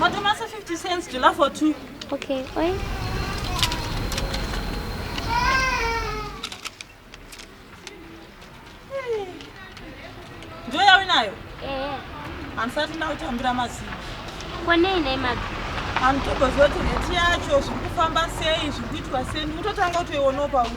Matomasa 50 cents, jula for two. Okay, oi. Ndio yawe nayo? Eh. Ansati na utambira mazi. Kwa nei nei mazi? Antokozote neti yacho zviri kufamba sei zviri kuitwa sei ndikutotanga kutoionopa uku.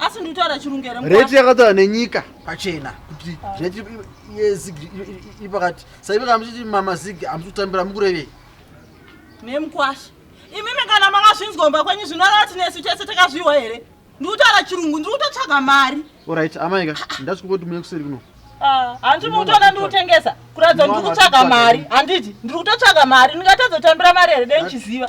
asi nditaura chirungu here rate yakataura nenyika pachena kuti rate yezig iri pakati saive kana muchiti mamazig hamusi kutambira mukurevei nemukwasha imimi kana makazvinzwa kumba kwenyu zvinoreva kuti nesu tese takazviwa here ndikutaura chirungu ndiri kutotsvaga mari orit amaika ndati kungoti muye kuseri kuno ah, handiti mukutoona ndiri kutengesa kuratidza ndiri kutsvaga mari handiti ndiri kutotsvaga mari ndingatadza kutambira mari here dei ndichiziva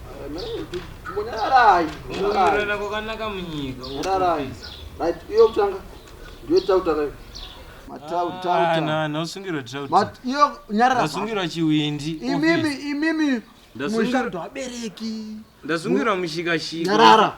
Rarai. Kurara kwakanaka munyika. Rarai. Right, iyo kutanga. Ndiyo tautaka. Matau tau. Ah, na na usungirwa tau. Mat iyo nyarara. Usungirwa chiwindi. Imimi imimi. Ndasungirwa abereki. Ndasungirwa mushika shika. Nyarara.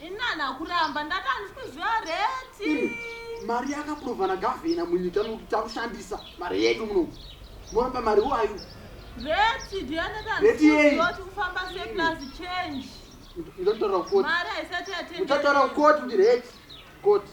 Inana kuramba ndati handisi kuziva reti. Mari yakaprova nagavhena munyika muti takushandisa mari yedu muno. Moramba mari wayo. Reti ndiyaneta reti yei? Ndoti kufamba se plus change. Ndotara koti. Mari haisati yatengwa. Ndotara koti ndi reti. Koti.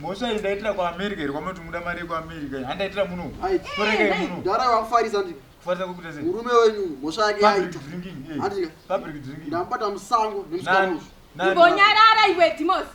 mhosva iyi ndaitira kuamerica iri kwamunoti muda mari yekuamerica handaitira muno kufarisa kwekuita sei murume wenyu mhosva yake yaita eh. public drinking ndambata musango nemsana uyu imbonyarara iwe dimosi